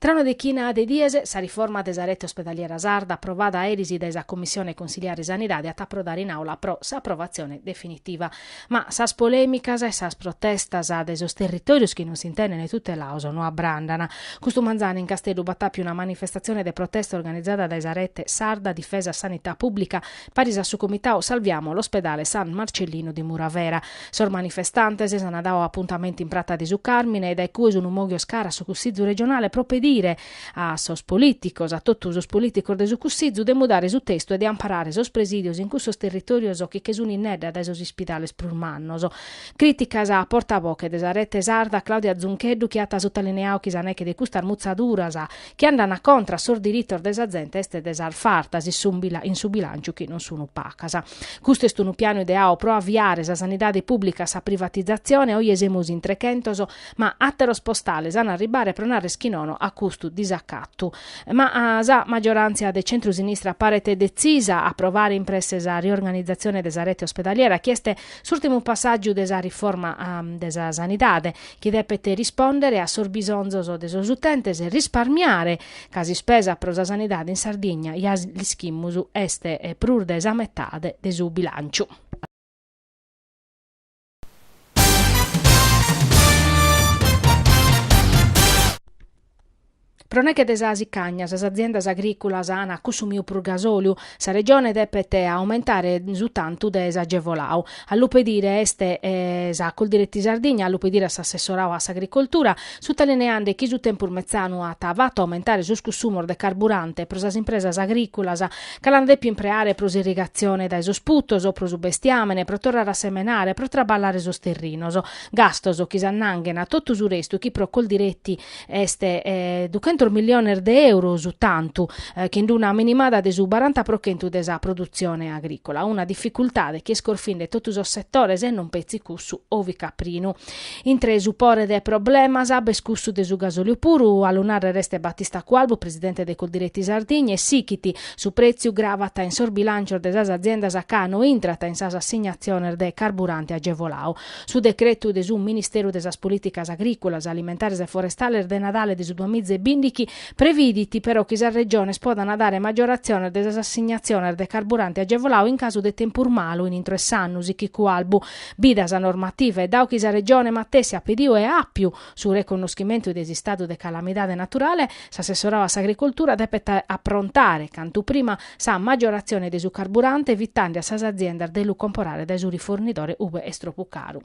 Tra una dechina de dies, sa riforma de sa rete ospedaliera sarda aprovada eris dae sa Commissione Consiliare Sanidade at a aprodare in Aula pro s'aprovatzione definitiva. Ma sas polèmicas e sas protestas de sos territòrios chi non s'intendent tutelados no abrandant. Custu manzanu in Casteddu b'at àpiu una manifestatzione de protesta organizada dae sa Rete Sarda Difesa Sanità Pùblica Paris a su comitau Salviamo l'ospedale San Marcellino di Muravera. Sos manifestantes s'ana dau apuntamentu in Prata de su Carmine e dae cue sunu moghios cara a su Cussizu Regionale pro pedire a sos politicos, a totu sos politicos de su Cussizu, de mudare su testu e de amparare sos presidios in cussos territorios chi che sunu innedda dae sos ispidales prus mannos. Critica sa porta-voche de sa Rete Sarda Claudia Zuncheddu chi at sotalineau chi sa neche de custas mutzaduras chi andana contra sos diritos de sa zente est de sas fartas in su bilànciu chi non sunu pacas. Custu est unu pianu ideau pro aviare sa sanidade pùblica a sa privatizatzione, oje semus in trechentos ma àteros postales an a arribbare pro narrer chi nono a custu disacatu. Ma sa maggioràntzia de centru-sinistra paret detzisa a aprovare in presse sa riorganizatzione de sa rete ospedaliera chi est s'ùrtimu passàgiu de sa riforma de sa sanidade, chi depet rispòndere a sos bisonzos de sos utentes e risparmiare, ca s'ispesa pro sa sanidade in Sardigna, ja l'ischimus, est prus de sa metade de su bilànciu. Pro neche de sa sicagna, sas aziendas agrìculas an cussumiu prus gasòliu, sa Regione depet aumentare su tantu de s'agevolau. A lu pedire est sa Coldiretti Sardigna, a lu pedire a s'assessorau a s'agricoltura, sutalineande chi su tempus metzanu at fatu aumentare sos cussumos de carburante pro sas impresas agrìculas ca l'an dèpiu impreare pro s'irrigatzione dae sos putos o pro su bestiàmene, pro torrare a semenare, pro traballare sos terrinos. Gastos chi s'annanghen a totu su restu chi pro Coldiretti est duchentos miliones de euros, tantu chind una minimada de su baranta pro chentu de sa produtzione agricola. Una dificultade chi est corfinde totu sos setores e non petzi cussu ovicaprinu. Intre su pore de problemas b'est cussu de su gasoliu puru, a lu narrer est Battista Cualbu, presidente de Coldiretti Sardigna, e sichit, su pretziu gravat in sos bilancios de sas aziendas ca no intrat in sas assignatziones de carburante agevolau. Su decretu de su Ministeru de sas Polìticas Agrìculas, Alimentares e Forestales de Nadale de su duas miza e bìndichi previdit però chi sas Regiones podant dare maggioratziones de sas assignatziones de carburante agevolau in casu de tempus malu in intro 'e s'annu sichit Cualbu bida sa normativa e dau chi sa Regione matessi at pediu e àpiu su reconnoschimentu de s'istadu de calamidade naturale, s'assessorau a s'agricoltura depet aprontare cantu prima sa maggioratzione de su carburante evitande a sas aziendas de lu comporare dae su rifornidore ue est tropu caru.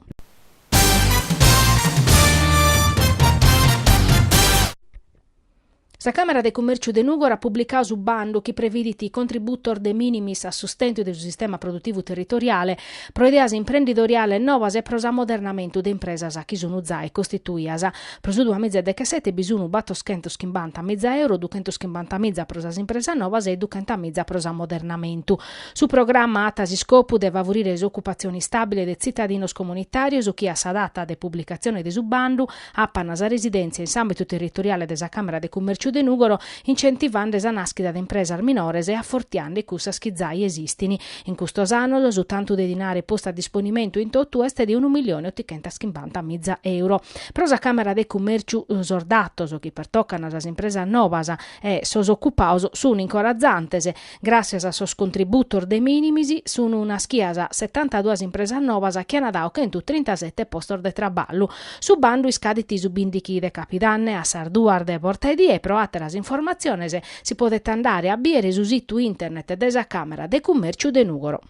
Sa Càmara de Cummèrciu de Nùgoro at publicadu su bandu chi previdit contributos de minimis a sustentu de su sistema produtivu territoriale, pro ideas imprendidoriales nobas e pro s'amodernamentu de impresas chi sunt zai costituias. Pro su duamiza e dechesete bi sunt batoschentos chimbanta miza euro, duchentos chimbanta miza pro sas impresas nobas e duchenta miza pro s'amodernamentu. Su programa at s'iscopu de favorire s'ocupatzione istàbile de tzitadinos comunitàrios chi a sa data de publicatzione de su bandu, apan sa residèntzia in s'àmbitu territoriale de sa Càmara de Cummèrciu de Nùgoro, incentivande sa nàschida de impresas minores e afortiande cussas chi zai esistint. In custos annos su tantu de dinare postu a disponimentu in totu est de unu milione otichentas chimbanta miza euro. Pro sa Càmara de Cummèrciu sos datos chi pertocan sas impresas nobas e sos ocupados sunt incoratzantes, Gràssias a sos contributos de minimis sun naschias setantaduas impresas nobas chi an dadu chentu trintasete postos de traballu. Su bandu iscadit su bìndichi de Capidanne a sas duas de portaedie e pro àteras informatziones si podet andare a bìdere su situ internet de sa Càmara de Cummèrciu de Nùgoro.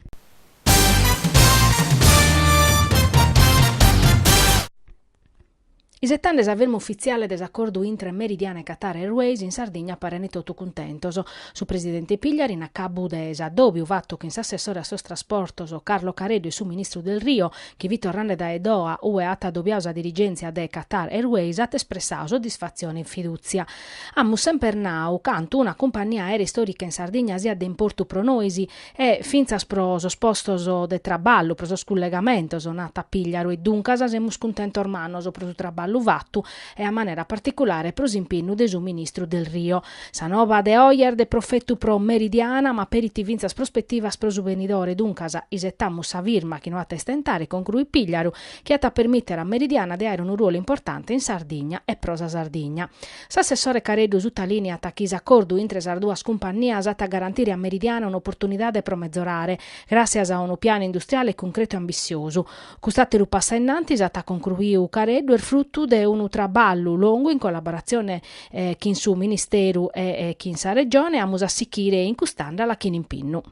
Isetande sa firma ufitziale de s'acordu intre Meridiana e Qatar Airways in Sardigna parent totu cuntentos. Su presidente Pigliaru in acabu de s'addòbiu fatu chin s'assessore a sos trasportos Carlo Careddu e su ministru Delrio, chi fit torrande dae Doha ue at addòbiadu sa dirigèntzia de Qatar Airways, at espressadu soddisfatzione e fidùtzia. Amus semper nau cantu una cumpannia aèrea istòrica in Sardigna siat de importu pro nois e fintzas pro sos postos de traballu, pro sos cullegamentos narat Pigliaru e duncas semus cuntentos. Cuntentos mannos pro su traballu fatu e a manera particulare pro s'impinnu de su ministru Delrio. Sa noba de oe est de profetu pro Meridiana ma aperit fintzas prospetivas pro su benidore duncas isetamus sa firma chi no at a istentare concruit Pigliaru chi at a permìtere a Meridiana de àere unu ruolu importante in Sardigna e pro sa Sardigna. S'assessore Careddu sutalìneat chi s'acordu intre sas duas cumpannias at a garantire a Meridiana un'oportunidade pro metzorare, gràssias a unu pianu industriale cuncretu e ambitziosu. Cust'àteru passu innantis, at concruiu Careddu, est frutu de unu traballu longu in collaboratzione chin su Ministeru e chin sa Regione, amus a sichire in cust'àndala chin impinnu.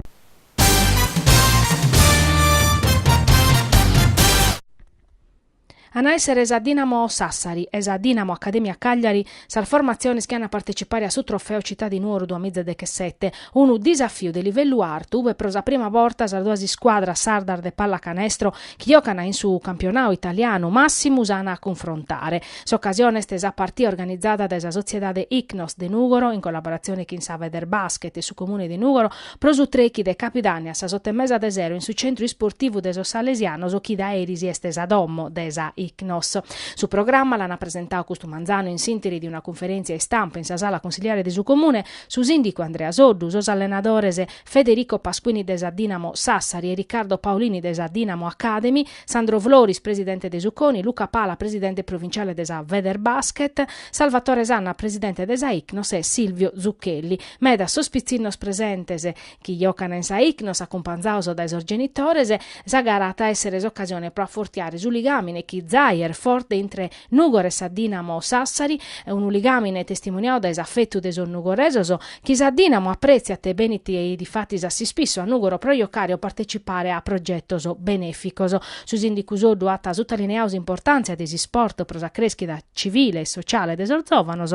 An a èssere sa Dinamo Sassari e sa Dinamo Accademia Cagliari sas formatziones chi an a partecipare a su Trofeo Città di Nuoro duas mìgias dechesete, unu disafiu de livellu artu ue pro sa prima borta sas duas iscuadras sardas de pallacanestro chi giocana in su campionau italianu màssimu s'an a cunfrontare. S'ocasione est sa partia organizada dae sa Sotziedade Ichnos de Nùgoro in collaboratzione chin sa Federbasket e su Comune de Nùgoro, Pro su trechi de Capidànnia a sas oto e mesa de sero in su Centru Isportivu de sos Salesianos chi dae eris est sa domo de sa Icnos. Su programma l'an presentau custu manzanu in s'interi de una cunferèntzia istampa in sa sala cunsiliare de su Comune, su sìndicu Andrea Soddu, sos allenadores Federico Pasquini de sa Dinamo Sassari e Riccardo Paolini de sa Dinamo Academy, Sandro Floris presidente de su Coni, Luca Pala presidente provinciale de sa Federbasket, Salvatore Sanna presidente de sa Icnos e Silvio Zucchelli. Meda sos pitzinnos presentes chi jocana in sa Icnos acumpanzaos dae sos genitores, sa gara at a essere s'occasione pro affortiare su ligamine chi zai est forte intre Nugor e sa Dinamo Sassari, unu ligamine testimoniau dae s'affettu de sos nugoresos chi sa Dinamo apretziat benit difatis a s'ispissu a Nugoro pro jocare o partecipare a progetos beneficos. Su Sindicu Soddu at sutalineau s'importantzia de s'Isport pro sa creschida civile e sociale de sos zovanos,